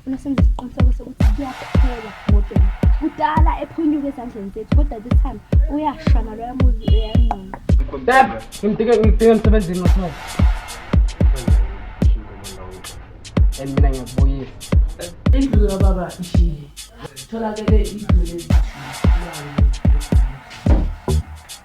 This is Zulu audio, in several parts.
unesenza isiqiniseko sokuthi kuyaphela modela kudala ephunyuka ezandleni zethu kodwa this time uyashana loya muzi uyanquma Dad, ngimdike ngimdike emsebenzini wasona. And mina ngiyakubuyisa. Indlu kababa ishile. Tholakele idole.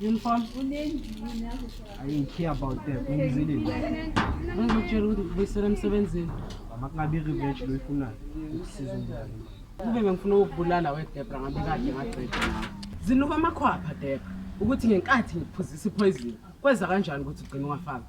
Uniform? I didn't care about them. Ngizile. Ngizokutshela ukuthi ngibuyisela emsebenzini. Makungabi revenge lo ifunayo. Ukusiza umntwana. Kube bengifuna ukubulala weDebra ngabe kade ngaqeda nawe. Zinuka amakhwapha Debra ukuthi ngenkathi ngikuphuzisa ipoison kweza kanjani ukuthi ugcine wafaka.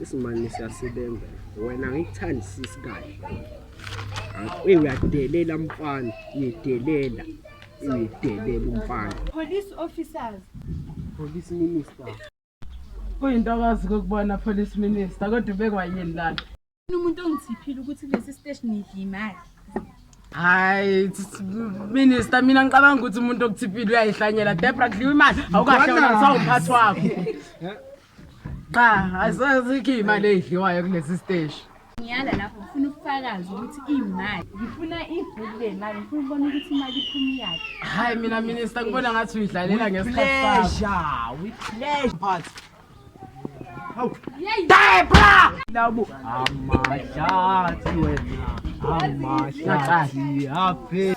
isimane siyasebenza wena ngikuthandisisi kahle uye uyadelela mfana uyedelela uyedelela umfana police officers police minister Kuyintokazi kokubona police minister kodwa ubekwa yini lana? Umuntu ongithiphile ukuthi kulesi station ngidla imali. Hayi minister mina ngicabanga ukuthi umuntu okuthiphile uyayihlanyela Debra kudliwa imali awukahle wena sawumphathi wakho. Cha asazi ikhi imali edliwayo kulesi station. ngiyala lapho ngifuna ubufakazi ukuthi imali ngifuna ibhuku lemali ngifuna ukubona ukuthi imali iphuma iyaphi hayi mina minister ngibona ngathi uyidlalela ngesikhathi sakho with pleasure but hawu debra labo amahlathi wena amahlathi aphe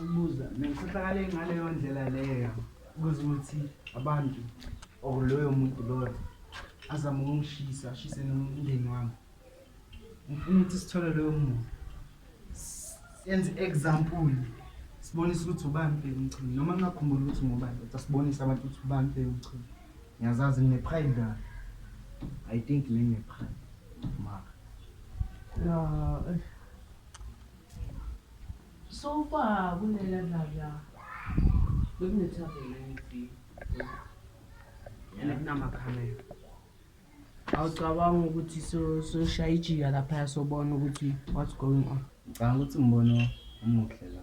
ukubuza nengikhohlakala ngaleyo ndlela leyo kuze ukuthi abantu or loyo muntu loyo azama ukungishisa ashise nomndeni wami ngifuna ukuthi sithole loyo muntu senze example sibonise ukuthi ubani bheka umchini noma ngingakhumbuli ukuthi ngubani kodwa sibonise abantu ukuthi ubani bheka umchini ngiyazazi ngine-pride la i think le ngine-pride mara ya eh. So far kunela dlala bekunethaveni engithi and kunamakhamera awucabanga ukuthi soshaya ijika laphaya sobona ukuthi what's going on ngicabanga ukuthi umbono omuhle la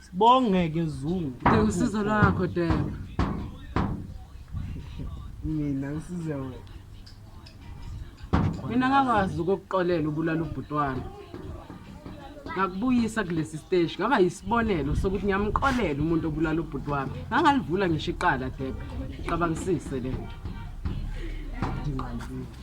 Sibongeke Zungu. Ngeke usizo lwakho Dema. Mina ngisize wena. Mina ngakwazi ukukuxolela ubulala ubhuti wami. Ngakubuyisa kulesi stage ngaba yisibonelo sokuthi ngiyamxolela umuntu obulala ubhuti wami. Ngangalivula ngisho iqala Dema. Cabangisise lento. Ndinqandile.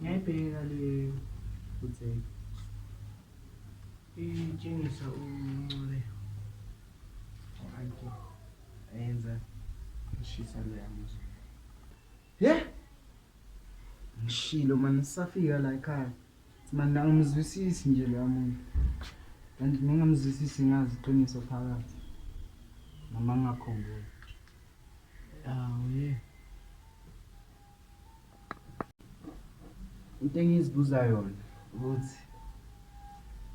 Ngiyayibheka le futseki. Itshengisa uncole. Ayikho. Ayenza ishisa le yamuzo. He? Ngishilo mani safika la ekhaya. Mani angimzwisisi nje lo muntu. Kanti ningamzwisisi ngazi iqiniso phakathi. Noma ngakhumbula. Awu ye. Into engizibuza yona ukuthi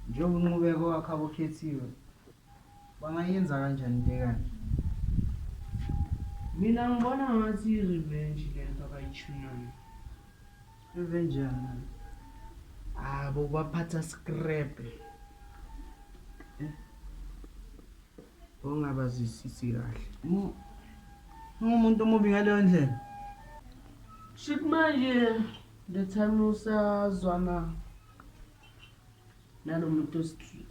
njengoba unqubeko wakhe abokhethiwe bangayenza kanjani into ekanje mina ngibona ngathi i-revenge le nto abayithunayo revenge yana abo ah, baphatha screbe eh? ongabazisisi kahle ungumuntu omubi ngaleyo ndlela shit manje the time usazwana nalo muntu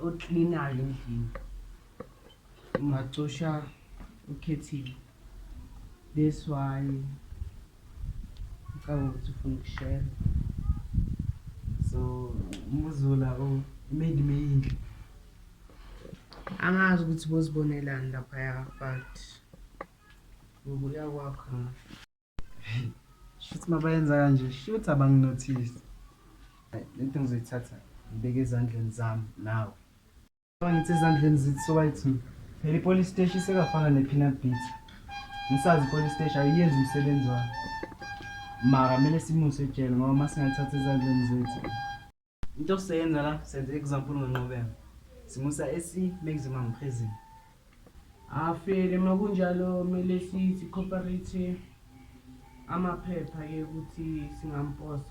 oklinayo endlini ungacosha ukhethile this why ngicabanga ukuthi ufuna ukushela so umuzula o made me yinhle angazi ukuthi bozibonelani laphaya but ngokuya kwakho shuthi mabayenza kanje shuthi abanginothisi lento ngizoyithatha ngibeke ezandleni zami nawe ngithi ezandleni zithi sobayithi phela ipolice station isekafana ne-peanut beat ngisazi ipolice station ayiyenzi umsebenzi wayo mara kumele simuse ejele ngoba uma singayithatha ezandleni zethu Into siyenza la senze example ngenqobeko. Simusa e maximum prison. Afele makunjalo kumele sithi cooperate amaphepha ke ukuthi singamposa.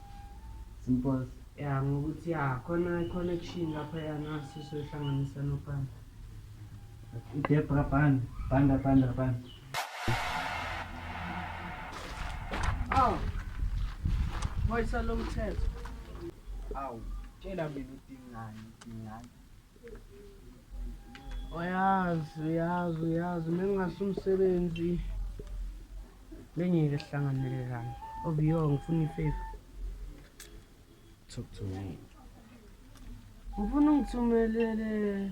Simposa. Ya ngokuthi ya khona connection lapha yana sisohlanganisa nopanda. Idebra banda banda banda banda. Awu. Wayisa lo mthetho. Awu, tshela mina udingani, udingani. Uyazi, uyazi, uyazi, mengingase umsebenzi. Bengeke sihlanganele lana. Obiyo ngifuna ifavor. Talk to me. Ngifuna ungithumelele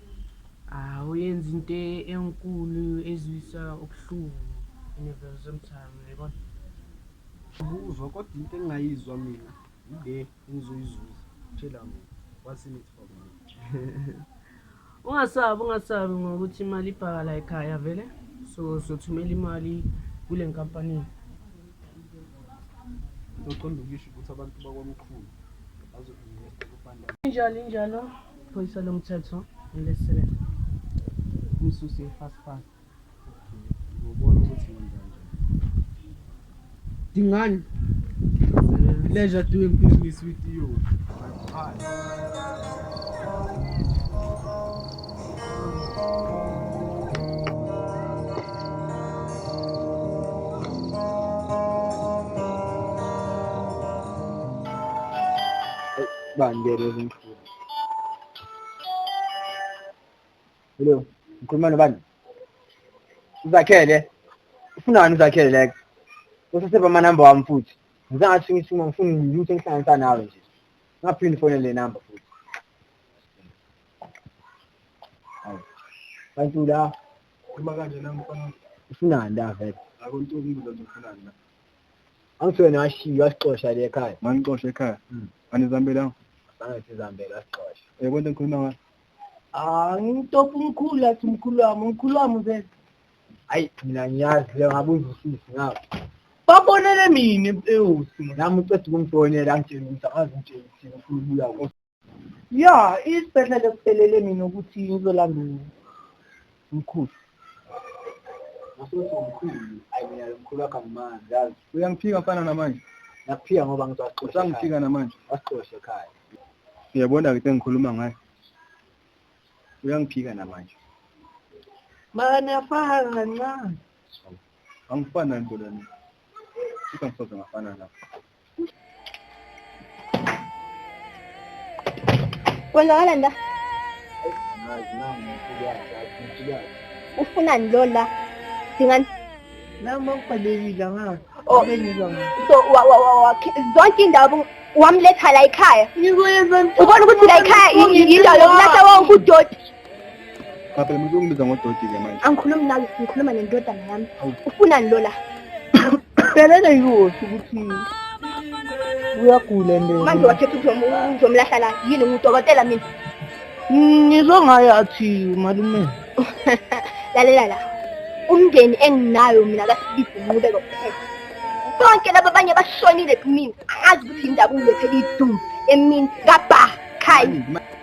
Ah uyenza into e-, enkulu ezwisa ubuhlungu in a very same time uyabona. Ubuzwa kodwa into engingayizwa mina yile engizoyizuza tshela mina what's in it for me. Ungasabi ungasabi ngokuthi imali ibhaka la ekhaya vele so sothumela imali kule nkampani. Uzoqonda ukuyisho ukuthi abantu bakwamkhulu bazo-investa kubanda. Injalo injalo. Iphoyisa lomthetho elesele umsusi fast fast. Ngobona ukuthi ngenzani. Dingani. Pleasure doing business with you. Bye. Bye. Bangere. Hello, ngikhuluma nobani? Uzakhele. Ufunani uzakhele like? Useseba ama number wami futhi. Ngizathi ngisimo ngifuna ngiyuthe ngihlanganisa nawe nje. Ngaphinde fone le number futhi. Hayi. Kanti la Uma kanje nami mfana ufunani la vele? akuntombi uzofunani la. angithiwe nashiywa asixosha le ekhaya manixosha ekhaya hmm. anizambelanga zange sizambele asixosha yebo into engikhuluma ngayo angitopha umkhulu athi umkhulu wami umkhulu wami uzele hayi mina ngiyazi le ngabe uzwisisi ngabo babonele mina ewu nami uceda ukungifonela angitshela ukuthi angazi ngitshela ukuthi ngifuna ukubuya ya isibhedlela esiphelele mina ukuthi ngizolanda mkhulu uyangiphika mfana namanje nakuphika ngoba ngizoxosha namanje wasixosha ekhaya uyabona-ke sengikhuluma ngayo uyangiphika namanje mani afaka kancane angifana nto lana futhi angisoze ngafana lapho Kwenzakala nda? Ufunani lo la? Dingani? Nami ngibhalekile ngazi. Oh, bengizwa ngazi. So wa wa wa wa zonke indawo wamletha la ekhaya. Ngikwenza. Ubona ukuthi la ekhaya yindawo yokulahla wonke udoti. Papa, mntu ungibiza ngodoti ke manje. Angikhulumi nawe, ngikhuluma nendodana yami. Ufunani lo la? Selele yosi ukuthi uyagula nje. Manje wakhetha ukuthi uzomlahla la. Yini ngudokotela mina? Ngizwe ngaye athi malume. Lalela la. Umndeni enginayo mina kasibizi nqubeko kuphela. Bonke laba abanye bashonile kumina. Angazi ukuthi indaba ulethe idumbu emini kabha. Kai.